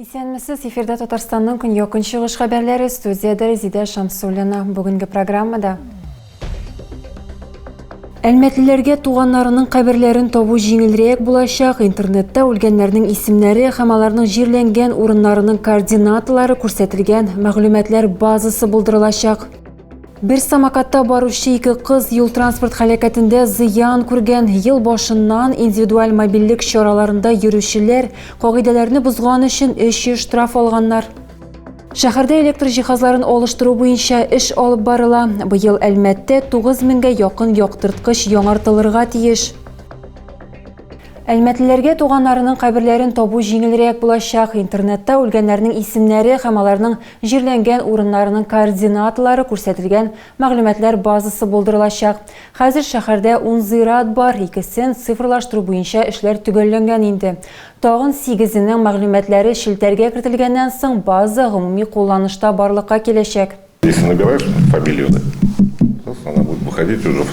Исәнмесез, эфирда Татарстанның көньяк-көнчыгыш хәбәрләре, студиядә Резидә Шамсуллина. Бүгенге программада Әлмәтлеләргә туганнарының каберләрен табу җиңелрәк булачак, интернетта үлгәннәрнең исемнәре һәм аларның җирләнгән урыннарының координаталары күрсәтелгән мәгълүматлар базасы булдырылачак. Бер самокатта баручы ике кыз юл-транспорт һәлакәтендә зыян күргән. Ел башыннан индивидуаль мобильлек чараларында йөрүчеләр кагыйдәләрне бозган өчен 300 штраф алганнар. Шәһәрдә электр җиһазларын алыштыру буенча эш алып барыла. Быел Әлмәттә 9 меңгә якын яктырткыч яңартылырга тиеш. Әлмәтлеләргә туганнарының каберләрен табу җиңелрәк булачак. Интернетта үлгәннәрнең исемнәре һәм аларның җирләнгән урыннарының координаталары күрсәтелгән мәгълүматлар базасы булдырылачак. Хәзер шәһәрдә ун зират бар, икесен цифрлаштыру буенча эшләр төгәлләнгән инде. Тагын сигезенең мәгълүматлары челтәргә кертелгәннән соң база гомуми кулланышта барлыкка киләчәк. Если набираешь фамилияне, сосын она будет выходить уже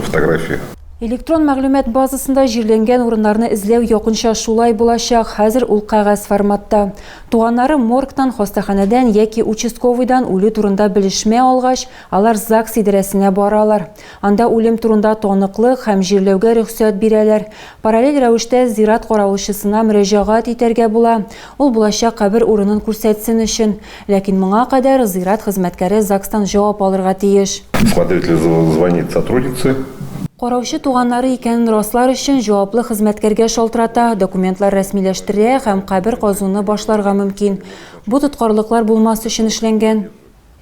фотография. Электрон мәгълүмат базасында җирләнгән урыннарны эзләү якынча шулай булачак, хәзер ул кәгазь форматта. Туганнары моргтан, хастаханәдән яки участковыйдан үлү турында белешмә алгач, алар ЗАГС идарәсенә баралар. Анда үлем турында таныклык һәм җирләүгә рөхсәт бирәләр. Параллель рәвештә зират каравылчысына мөрәҗәгать итәргә була, ул булачак кабер урынын күрсәтсен өчен. Ләкин моңа кадәр зират хезмәткәре ЗАГСтан җавап алырга тиеш. Смотреть ли звонит сотруднице? Караучы туганнары икәнен раслар өчен җаваплы хезмәткәргә шалтырата, документлар рәсмиләштерә һәм кабер казуны башларга мөмкин. Бу тоткарлыклар булмас өчен эшләнгән.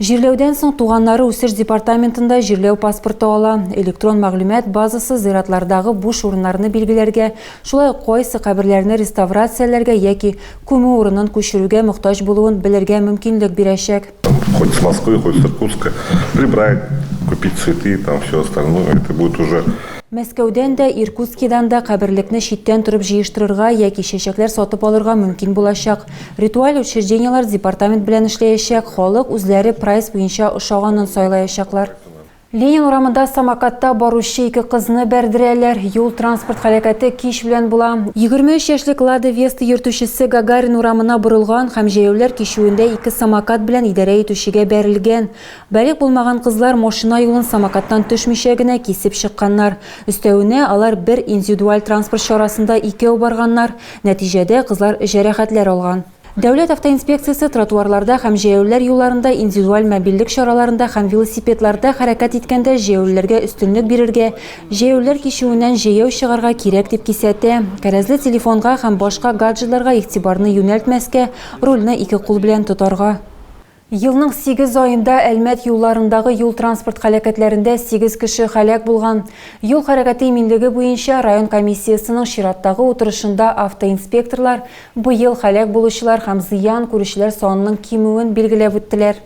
Җирләүдән соң туганнары үсеш департаментында җирләү паспорты ала. Электрон мәгълүмат базасы зиратлардагы буш урыннарны билгеләргә, шулай ук кайсы каберләрне реставрацияләргә яки күмү урынын күчерүгә мохтаҗ булуын белергә мөмкинлек бирәчәк. Хоть с Москвы, хоть с Иркутска прибрать, купить цветы, там всё остальное, это будет уже. Мәскәүдән дә, Иркутскидан да каберлекне читтән торып җыештырырга яки чәчәкләр сатып алырга мөмкин булачак. Ритуаль учреждениеләр департамент белән эшләячәк, халык үзләре прайс буенча ошаганын сайлаячаклар. Ленин урамында самокатта баручы ике кызны бәрдерәләр, юл-транспорт хәрәкәте кич белән була. 23 яшьлек Лада Веста йөртүчесе Гагарин урамына борылган һәм җәяүләр кичүендә ике самокат белән идарә итүчегә бәрелгән. Балигъ булмаган кызлар машина юлын самокаттан төшмичә генә кисеп чыкканнар. Өстәвенә, алар бер индивидуаль транспорт чарасында икәү барганнар. Нәтиҗәдә, кызлар җәрәхәтләр алган. Дәүләт автоинспекциясе тротуарларда һәм җәяүлеләр юлларында индивидуаль мобильлек чараларында һәм велосипедларда хәрәкәт иткәндә җәяүлеләргә өстенлек бирергә, җәяүлеләр кичүеннән җәяү чыгарга кирәк дип кисәтә, кәрәзле телефонга һәм башка гаджетларга игътибарны юнәлтмәскә, рульне ике кул белән тотарга. Елның сигез аенда Әлмәт юлларындагы юл-транспорт һәлакәтләрендә сигез кеше һәлак булган. Юл хәрәкәте иминлеге буенча район комиссиясенең чираттагы утырышында автоинспекторлар быел һәлак булучылар һәм зыян күрүчеләр санының кимүен билгеләп үттеләр.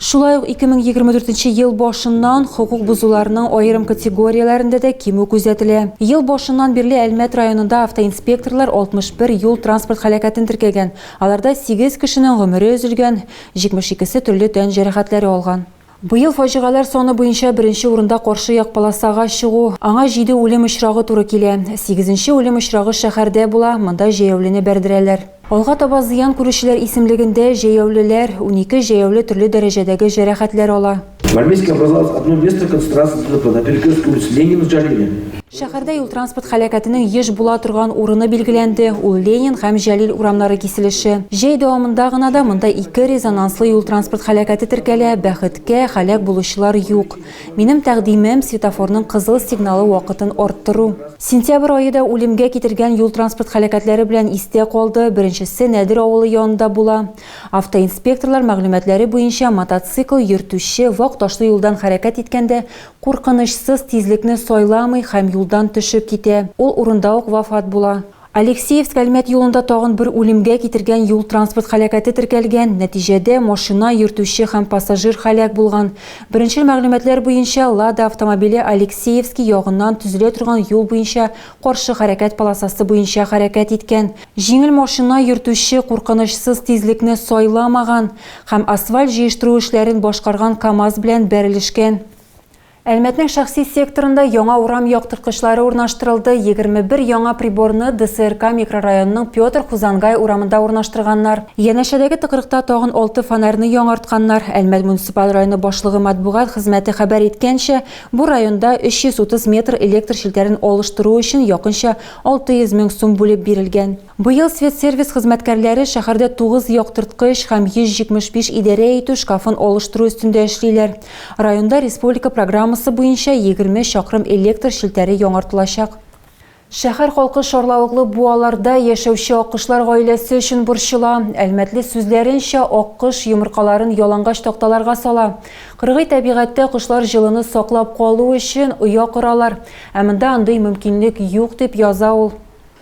Шулай ук 2024 ел башыннан хокук бозуларның аерым категорияләрендә дә кимү күзәтелә. Ел башыннан бирле Әлмәт районында автоинспекторлар 61 юл-транспорт һәлакәтен теркәгән. Аларда сигез кешенең гомере өзелгән, 72-се төрле тән җәрәхәтләре алган. Быел фаҗигаләр саны буенча беренче урында каршы як полосага чыгу, аңа җиде үлем очрагы туры килә. Сигезенче үлем очрагы шәһәрдә була, монда җәяүлене бәрдерәләр. Алга таба зыян күрүчеләр исемлегендә җәяүлеләр, унике җәяүле төрле дәрәҗәдәге җәрәхәтләр ала. В Армейске образовалось одно место концентрации ДТП на перекрестке улиц Ленина с Джалилем. Шәһәрдә юл-транспорт һәлакәтенең еш була торган урыны билгеләнде. Ул Ленин һәм Җәлил урамнары киселеше. Җәй дәвамында гына да монда ике резонанслы юл-транспорт һәлакәте теркәлә. Бәхеткә, һәлак булучылар юк. Минем тәкъдимем, светофорның кызыл сигналы вакытын арттыру. Сентябрь ае да үлемгә китергән юл-транспорт һәлакәтләре белән истә калды. Беренчесе Нәдер авылы янында була. Автоинспекторлар мәгълүматлары буенча, мотоцикл йөртүче вак ташлы юлдан хәрәкәт иткәндә куркынычсыз тизлекне сайламый һәм юлдан төшеп китә, ул урында ук вафат була. Алексеевск, Әлмәт юлында тагын бер үлемгә китергән юл-транспорт һәлакәте теркәлгән, нәтиҗәдә машина йөртүче һәм пассажир һәлак булган. Беренчел мәгълүматлар буенча, Лада автомобиле Алексеевски ягыннан төзелә торган юл буенча Каршы хәрәкәт полосасы буенча хәрәкәт иткән, җиңел машина йөртүче куркынычсыз тизлекне сайламаган һәм асфальт җыештыру эшләрен башкарган КАМАЗ белән бәрелешкән. Әлмәтнең шәхси секторында яңа урам яктырткычлары урнаштырылды, 21 яңа приборны ДСРК микрорайонының Петр Хузангай урамында урнаштырганнар. Янәшәдәге тыкрыкта тагын алты фонарьны яңартканнар. Әлмәт муниципаль районы башлыгы матбугат хезмәте хәбәр иткәнчә, Бу районда 330 метр электр челтәрен алыштыру өчен якынча 600 мең сум бүлеп бирелгән. Быел Светсервис хезмәткәрләре шәһәрдә тугыз яктырткыч һәм 175 идарә итү шкафын алыштыру өстендә эшлиләр. Районда республика программасы буенча 20 чакрым электр челтәре яңартылачак. Шәһәр халкы шарлавыклы буаларда яшәүче аккошлар гаиләсе өчен борчыла. Әлмәтле сүзләренчә, аккош йомыркаларын ялангач такталарга сала. Кыргый тәбигатьтә кошлар җылыны саклап калу өчен оя коралар, ә монда андый мөмкинлек юк, дип яза ул.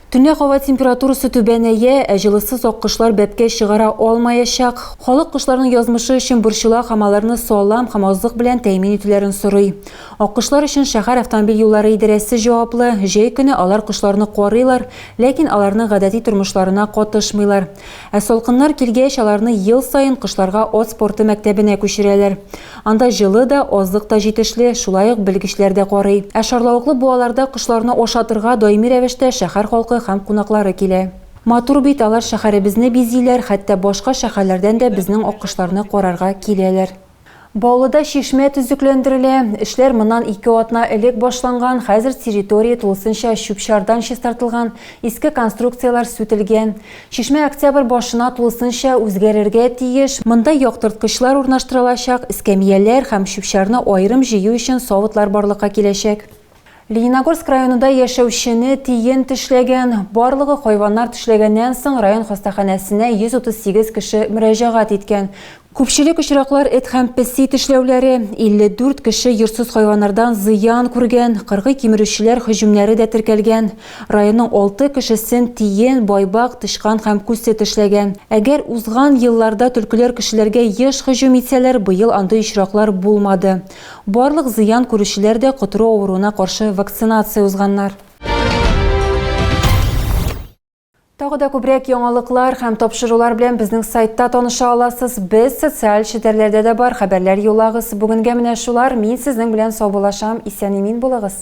Төнлә һава температурасы түбәнәя, ә җылысыз аккошлар бәбкә чыгара алмаячак. Халык кошларның язмышы өчен борчыла һәм аларны салам һәм азык белән тәэмин итүләрен сорый. Аккошлар өчен шәһәр автомобиль юллары идарәсе җаваплы, җәй көне алар кошларны карыйлар, ләкин аларның гадәти тормышларына катышмыйлар. Ә салкыннар килгәч, аларны ел саен кошларга ат спорты мәктәбенә күчерәләр. Анда җылы да, азык та җитешле, шулай ук белгечләр дә карый. Ә шарлавыклы буаларда кошларны ашатырга даими рәвештә шәһәр халкы һәм кунаклары килә. Матур бит, алар шәһәребезне бизиләр, хәтта башка шәһәрләрдән дә безнең аккошларны карарга киләләр. Баулыда чишмә төзекләндерелә. Эшләр моннан ике атна элек башланган, хәзер территория тулысынча чүп-чардан чистартылган, иске конструкцияләр сүтелгән. Чишмә октябрь башына тулысынча үзгәрергә тиеш. Монда яктырткычлар урнаштырылачак, эскәмияләр һәм чүп-чарны аерым җыю өчен савытлар барлыкка киләчәк. Лениногорск районында яшәүчене тиен тешләгән. Барлыгы хайваннар тешләгәннән соң район хастаханәсенә 138 кеше мөрәҗәгать иткән. Күпчелек очраклар эт һәм песи тешләүләре. 54 кеше йортсыз хайваннардан зыян күргән, кыргый кимерүчеләр һөҗүмнәре дә теркәлгән. Районның алты кешесен тиен, байбак, тычкан һәм күсе тешләгән. Әгәр узган елларда төлкеләр кешеләргә еш һөҗүм итсәләр, быел андый очраклар булмады. Барлык зыян күрүчеләр дә котыру авыруына каршы вакцинация узганнар. Тагы да күбрәк яңалыклар һәм тапшырулар белән безнең сайтта таныша аласыз. Без социаль челтәрләрдә дә бар, хәбәрләр юлагыз. Бүгенгә менә шулар. Мин сезнең белән саубулашам. Исән-имин булыгыз.